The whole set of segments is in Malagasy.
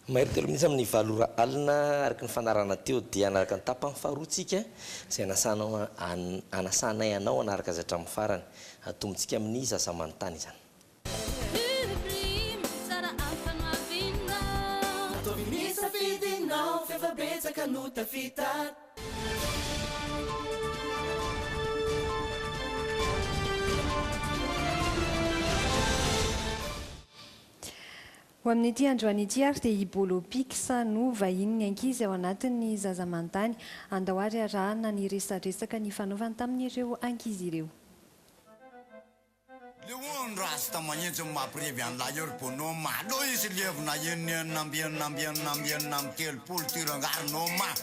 Mahery telo minitra amin'ny valo ora alina araka ny fanarahana teo dia hanaraka ny tapany faharoa tsika izay anasanay anao hanaraka azy hatramin'ny farany. Atombontsika amin'ny zaza manontany izany. Ataovy ny safidinao f'efa betsaka no tafita. Ho amin'ity androany ity ary dia i Bolo Pics no vahinin'ny ankizy ao anatin'ny Zaza Manontany. Andao ary arahana ny resadresaka nifanaovany tamin'ireo ankizy ireo. Leon rasta mahintsy mapirevy an'i lahior bonhomme alou izy levona enina enina amby enina amby enina amby enina amby telopolo tirangary noma.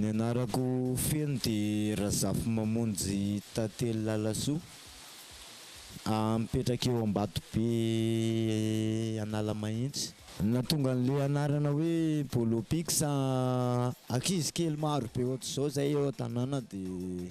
Ny anarako feno dia Razafimamonjy Tantely Lalasoa, mipetraka eo Ambatobe Analamahitsy. Ny nahatonga an'ilay anarana hoe Bolo Pix, ankizy kely maro be ohatr'izao izay eo an-tanàna dia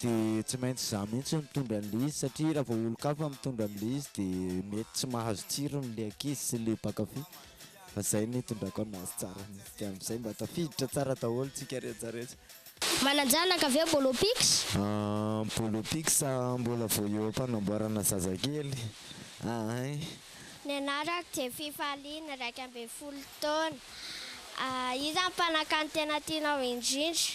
Dia tsy maintsy izaho mihitsy no mitondra an'ilay izy satria raha vao olon-kafa mitondra an'ilay izy dia mety tsy mahazo tsirony ilay ankizy sy ilay mpankafy fa izay no itondrako an'azy tsara dia amin'izay mba tafiditra tsara daholo tsika rehetra rehetra. Manan-janaka ve Bolo Pics? Bolo Pics mbola vao eo am-panamboarana zazakely ahy. Ny anarako dia Fifaliana, iraika ambin'ny folo taona. Iza ny mpanankanin-tena tianao indrindra?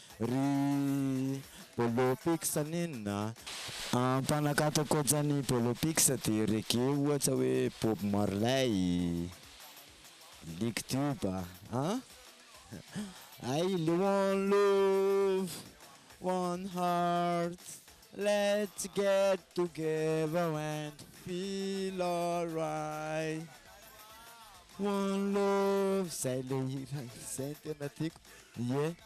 Ry Bolopix nenina a! Mpanakato ankoatran'i Bolopix dia reggae ohatra hoe Bob Marley, Nick Tube a! Hay le one love, one heart, let's get together and feel alright. One love, zay le hira zay no tena tiako, ie.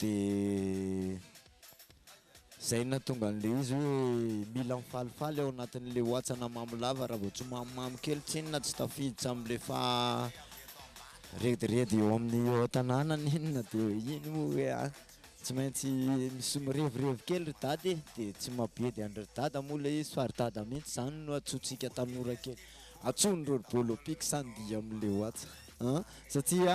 De zay no nahatonga an'ilay izy hoe mila mifalifaly ao anatin'ilay oatsana mamy lava raha vao tsy mamimamy kely tsinona tsy tafiditra amin'ilay faha rediredy eo amin'ny eo an-tanàna na inona de iny moa hoe a tsy maintsy mis- mirevirevy kely ry dada e de tsy mabedy an-dry dada moa ilay izy fa ry dada mihitsy zany no antsointsika tanora kely antsoin'ireo ry bolo piky sa andihy amin'ilay oatsa an satsia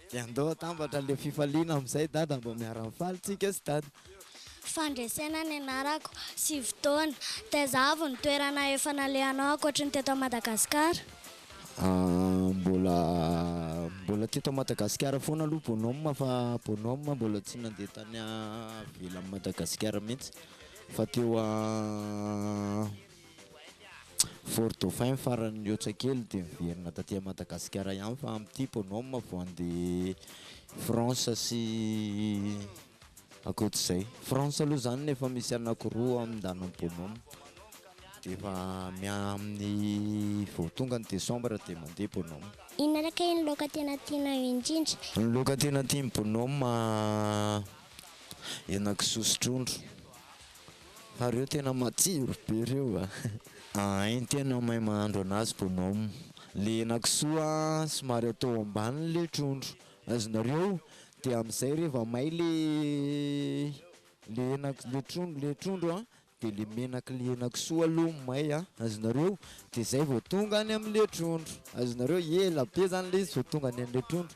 Dia andao atambatra ilay fifaliana amin'izay dada mba miara-mifaly tsika sy dada. Fandresena ny anarako, sivy taona. Taiza avy ny toerana efa nalehanao ankoatry ny teto Madagasikara? Mbola mbola teto Madagasikara foana aloha bonhomme fa bonhomme mbola tsy nandeha tany ivelan'i Madagasikara mihitsy fa teo Fort Dauphin farany mihoatra kely dia miverina taty Madagasikara ihany fa amin'ity bonhomme vao handeha France sy ankoatr'izay. France aloha izany efa misy anakiroa amin'ndanin'ny bonhomme dia efa miaha amin'ny vao tonga ny décembre dia mandeha bonhomme. Inona ary kay ny laoka tena tianao indrindra? Ny laoka tena tian'ny bonhomme, henakisoa sy trondro. Fa reo tena matsiro be reo a! Ahay tena mahay mahandro anazy bonhomme. Le henakisoa somary atao ambany le trondro azonareo de amizay reva may le le henak- le trondro le trondro an de le menaky le henakisoa aloha may an azonareo de zay vao tonga any amle trondro azonareo ela be zany le izy vao tonga any amle trondro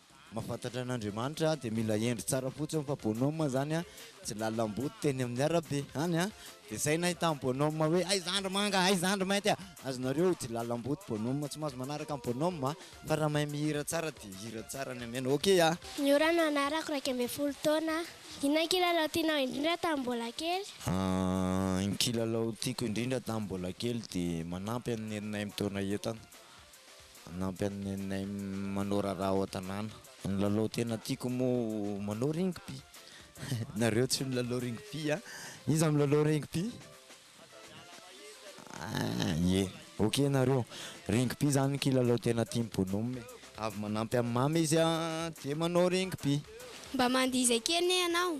Mahafantatra an'Andriamanitra dia mila hendry tsara fotsiny fa bonhomme izany a, tsy lalam-boto teny amin'ny arabe any a, dia zay nahita an'i bonhomme hoe hay zandry manga, hay zandry mainty a, azonareo tsy lalam-boto bonhomme tsy maintsy manaraka an'i bonhomme a, fa raha mahay mihira tsara dia hira tsara ny amena, ok a. Niora no anarako, iraika ambin'ny folo taona aho. Inona ny kilalao tianao indrindra tamin'ny mbola kely? Ny kilalao tiako indrindra tamin'ny mbola kely dia manampy an'i neninay mitaona entana. Hanampy anay manao raharaha ao an-tanàna. Ny lalao tena tiako moa manao rugby. Nareo tsy milalao rugby a? Iza milalao rugby? Ye, ok nareo. Rugby zany kilalao tena tian'i Bonhomme e. Avy manampy an'i Mamy izy a, dia manao rugby. Mba mandihy izay kely anie ianao.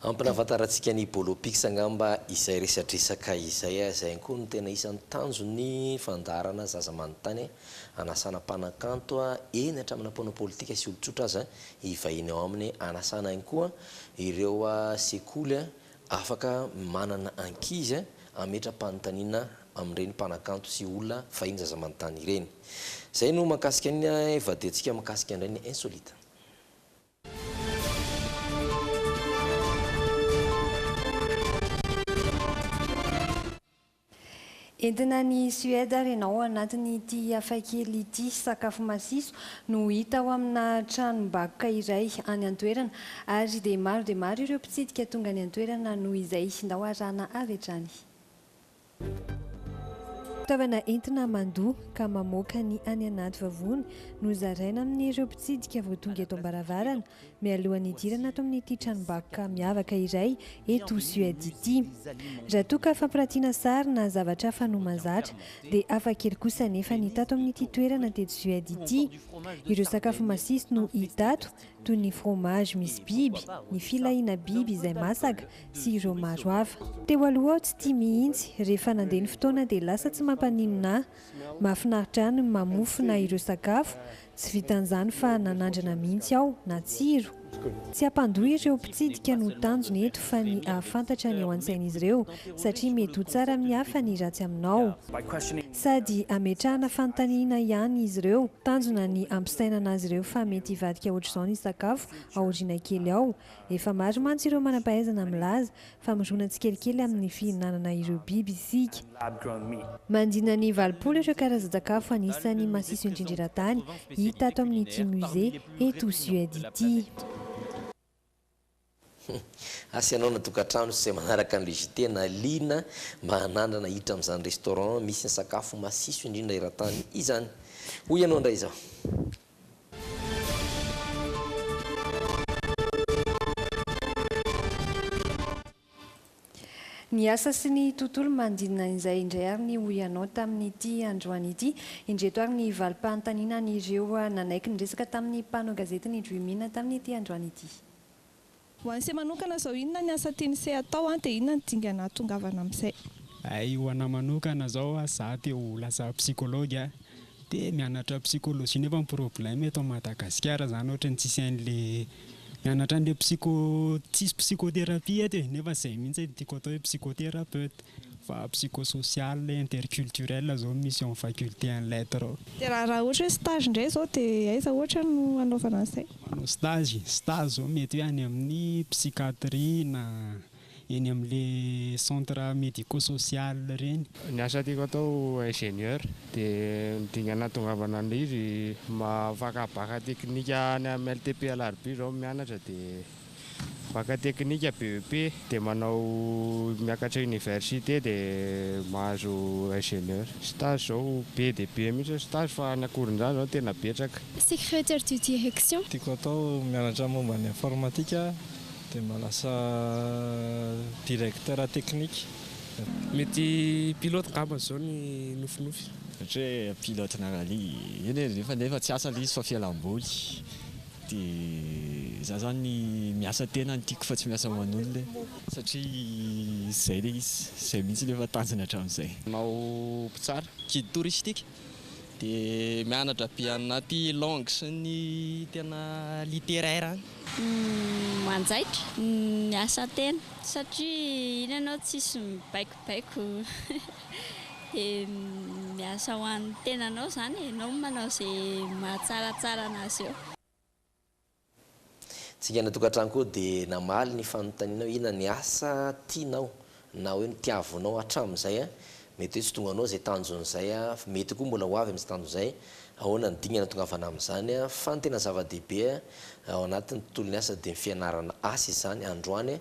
Hampinafantarantsika ny Bolo Pics angamba izay resadresaka izay a! Izay ihany koa no tena isan'ny tanjon'ny fandaharana Zaza Manontany hanasana mpanakanto a! eny hatramina mpanao politika sy olon-tsotra aza hivahiny ao aminy hanasana ihany koa ireo sekoly a! Afaka manana ankizy hametra-panontaniana amin'ireny mpanakanto sy olona fahiny zaza manontany ireny. Izay no mahakasika ny vadiantsika mikasika indray ny insolite. Entina any Suède ary ianao ao anatin'ity hafakely ity. Sakafo masiso no hita ao amina tranom-bakoka iray any an-toerana ary dia maro dia maro ireo mpitsidika tonga any an-toerana noho izay. Ndao harahana avy hatrany. Fitaovana entina mandoa ka mamoaka ny any anaty vavony no zaraina amin'ireo mpitsidika vao tonga eto am-baravarana. mialohan'ny hidirana ato amin'ity tranombakoka miavaka iray eto Suède ity. Raha toa ka fampirantiana sary na zavatra hafa no mahazatra, dia hafa kely kosa anefa ny hita ato amin'ity toerana teto Suède ity. Ireo sakafo masiso no hita ato, toy ny fromage misy biby, ny filahiana biby izay masaka, sy ireo maro hafa. Teo aloha aho tsy tia mihitsy, rehefa nandeha ny fotoana dia lasa tsy mampaninona ahy. Mahafinaritra ahy ny mamofona ireo sakafo, Tsy vitan'izany fa nanandrana mihitsy aho, natsiro. Tsy hampandoa ireo mpitsidika no tanjona eto fa ny hahafantatra ny ao an-tsain'izy ireo satria mety ho tsara amin'ny hafa ny ratsy aminao. Sady hametrahana fanontaniana ihany izy ireo. Tanjona ny hampisainana azy ireo fa mety hivadika ohatr'izao ny sakafo aoriana kely ao. Efa maro mantsy ireo manam-pahaizana milaza Famoronana tsikelikely amin'ny fihinanana ireo biby isika. Mandrina ny valopolo ireo karazan-tsakafo anisan'ny masiso indrindra eran-tany hita ato amin'ity musée eto Suède ity. Asa ianao na tokantrano izay manaraka an'ilay JT na liana mba hanandrana hiditra amin'izany restaurant misy ny sakafo masiso indrindra eran-tany izany. Hoy ianao indray izao. Ny asa sy ny tontolo manodidina izay indray ary ny ho ianao tamin'ity androany ity. Indreto ary ny valim-panontaniana an'ireo nanaiky niresaka tamin'ny mpanao gazety ny Dream In tamin'ity androany ity. Ho an'ise manokana izao inona ny asa tian'ise hatao dia inona no dingana hahatongavana amin'izay? Hay ho anah manokana izao ah, za te ho lasa psychologue ah, de mianatra psychologie nefa ny problème eto Madagasikara zany ohatran'ny tsisy an'le mianatra an'le psycho, tsisy psychothérapie eto e, nefa zay mihitsy no tiako hatao hoe psychothérapeute fa psychosocial, interculturel zao no misy eo amin'ny faculté en lettres ao. De raha raha ohatra hoe stage indray izao dia aiza ohatra no hanaovana an'izay? manao stage, stage zao mety hoe any amin'ny psychiatrie na eny amin'le centre medico social reny. Ny asa tiako atao ingénieur dia ny dingana natongavana an'le izy maha fakabaka teknika any amin'ny LTP Alarobia zao mianatra dia. Baka teknika BEP dia manao miakatra université dia mahazo ingénieur. Stage zao be dia be mihitsy ny stage fa any Ankorondrano zao tena betsaka. Secrétaire du direction. Tiako atao mianatra momba ny informatika dia mba lasa directeur technique. Mety pilote ngamba zao ny nofinofy. Ohatra hoe pilote-na rallye. Eny e, nefa tsy asa le izy fa fialam-boly. Dia za zany miasa tena no tiako fa tsy miasa ho an'olona e. Satria zay le izy, zay mihitsy le efa tanjona hatramin'izay. Manao mpitsara guide touristique dia mianatra be anaty langue sy ny tena littéraire any. Manjaitra ny miasa tena satria iny ianao tsisy mibaikobaiko. Dia miasa ho an'ny tenanao izany e, ianao no manao izay mahatsaratsara an'azy eo. Tsingana tokantrano koa dia namaly ny fanontanianao hoe inona ny asa tianao na hoe ny tiavonao hatramin'izay, mety hoe tsy tonga anao izay tanjon'izay, mety koa mbola ho avy amin'izay tanjo izay, ahoana ny dingana tongavana amin'izany, fa ny tena zava-dehibe ao anatin'ny tontolon'ny asa dia ny fianarana asa izany androany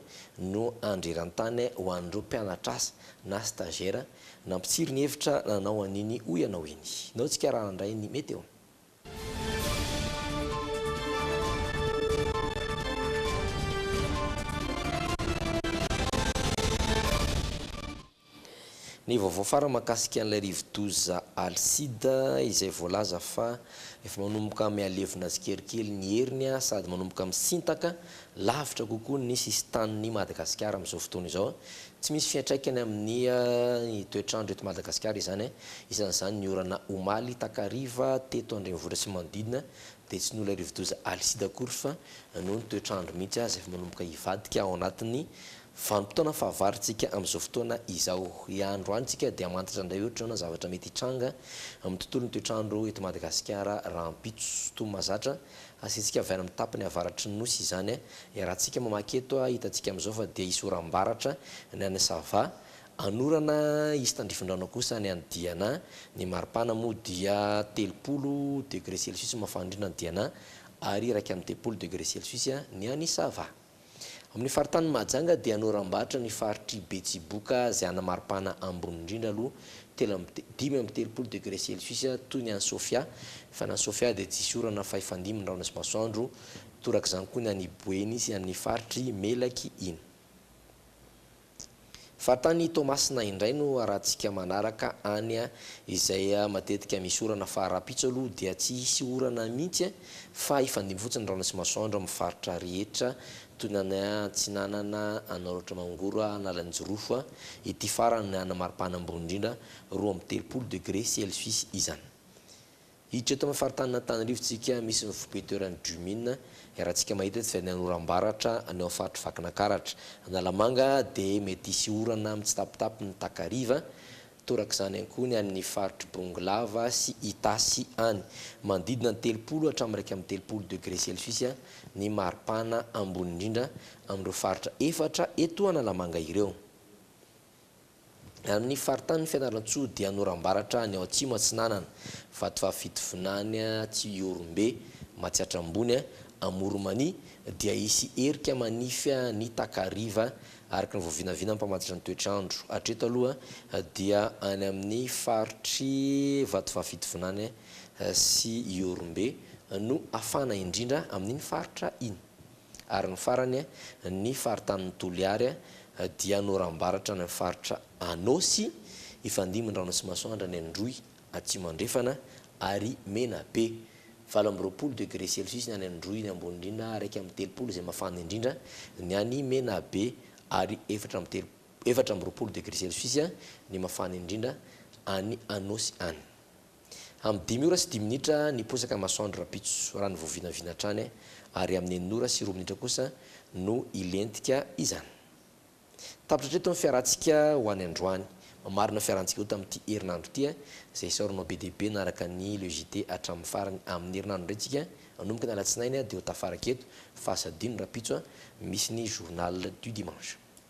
no andreran-tany ho an'ireo mpianatr'asa na stagiaire, nampitsiry ny hevitra nanao an'iny hoy ianao iny. Nao tsika raha nandray ny météo. Ny vaovao farany mahakasika an'ilay rivodoza Alcide izay voalaza fa efa manomboka mihalevona tsikelikely ny heriny sady manomboka misintaka Lavitra kokoa ny sisin-tanin'I Madagasikara amin'izao fotoana izao. Tsy misy fiantraikany amin'ny ny toetr'andro eto Madagasikara izany. Isan'izany ny orana omaly takariva teto an-drenivohitra sy manodidina dia tsy nola rivodoza alisida akory fa noho ny toetr'andro mihitsy aza efa manomboka hivadika ao anatin'ny vanim-potoana fahavaritsika amin'izao fotoana izao. Androany tsika dia hamantatra indray ohatr'izao na zavatra mety hitranga amin'ny tontolon'ny toetr'andro eto Madagasikara rahampitso. Toa mahazatra. Asiantsika avy any amin'ny tapany avaratry ny nosy izany e. Iarahantsika mamaky eto a, hitantsika amin'izao fa dia hisy oram-baratra ny any Sava, hanorana hisy tandrifindrano kosa ny any Diana, ny maripana moa dia telopolo degré celsius mafana indrindra any Diana ary iraika amby telopolo degré celsius ny any Sava. Amin'ny faritanin'i Mahajanga dia noram-batra ny faritr'i Betsiboka izay ana maripana ambony indrindra aloha telo amby te, dimy amby telopolo degré celsius toy ny any Sofia, fa ny any Sofia dia tsisy orana fa hifandimby ny rahona sy masoandro, torak'izany koa ny any Boeny sy amin'ny faritr'i Melaky iny. Fa tany Toamasina indray no arahantsika manaraka any izay matetika misy orana fa rahampitso aloha dia tsy hisy orana mihitsy fa hifandimby fotsiny ny rahona sy masoandro amin'ny faritra rehetra toy ny any Antsinanana, Anararaotra Mangoro, Analanjirofo ity farany any maripana ambony indrindra roa amby telopolo degré celsius izany. Hiditra eto amin'ny faritanin'Antananarivo tsika misy ny foibe toeran'ny Jumin, iarahantsika mahita tsy vidiana ny oram-baratra any amin'ny faritry Vakinakaratra. Analamanga dia mety hisy orana mitsitapitapy ny takariva, torak'izany ihany koa ny any amin'ny faritry Bongolava sy Itasy any. Manodidina ny telopolo hatramin'ny iraika amby telopolo degré celsius ny maripana ambony indrindra amin'ireo faritra efatra eto Analamanga ireo. Amin'ny faritanin'i Fianarantsoa dia Norambaratra any ao Atsimo Atsinanana, Vatovavy-Fitovinany Tsiorombe, Matsiatra Ambony, Amoronmania, dia hisy erika manify ny takariva, araka ny voavinavina mpamantatra ny toetr'andro. Hatreto aloha dia any amin'ny faritr'i Vatovavy-Fitovinany sy Ihorombe no hafana indrindra amin'iny faritra iny. Ary ny farany, ny faritanin'i Toliary dia norambaratra any amin'ny faritra Anôsy, Ifandimby-Andranotsimasoandra any Androy Atsimo Andrefana ary Menabe. Valo amby roapolo degre celsius ny any Androy ny ambony indrindra ary iraika amby telopolo izay mafana indrindra ny any Menabe ary efatra amby telo efatra amby roapolo degre celsius ny mafana indrindra any Anôsy any. Amin'ny dimy ora sy dimy minitra niposaka ny masoandro rahampitso raha novoavinavina hatrany ary amin'ny enina ora sy roa minitra kosa no hilentika izany. Tapitra hatreto ny fiarahantsika ho any androany. Mamarina fiarahantsika ho tamin'ity herinandro ity izay isaoranao be dia be nanaraka ny Le JT hatramin'ny farany. Amin'ny herinandro indray tsika hanomboka ny alatsinainy dia ho tafaraka eto fa asadino rahampitso misy ny Journal du dimanche.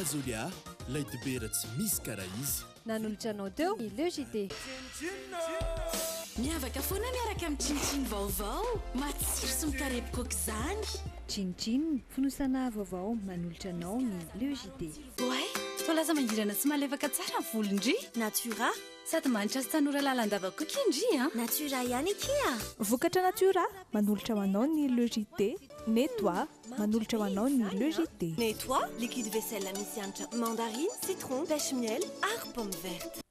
Azolia, lay dobera tsy misy karaha izy. Nanolotra anao teo ny Le JT. Miavaka foana miaraka amin'ny Chin Chin vaovao, matsiro sy mikarepoka aoka izany. Chin Chin, fonosana vaovao manolotra anao ny Le JT. Oay! Toa lasa mangirana sy malefaka tsara ny volo ndry! Natura. Sady manitra sy tanora lalandava koa ki ndry a! Natura ihany akia a! Vokatra Natura, manolotra ho anao ny Le JT, Netoa, manolotra ho anao ny Le JT. Netoa, liquide vaisselle misy hanitra mandarine, citron, pêche miel ary pomme verte.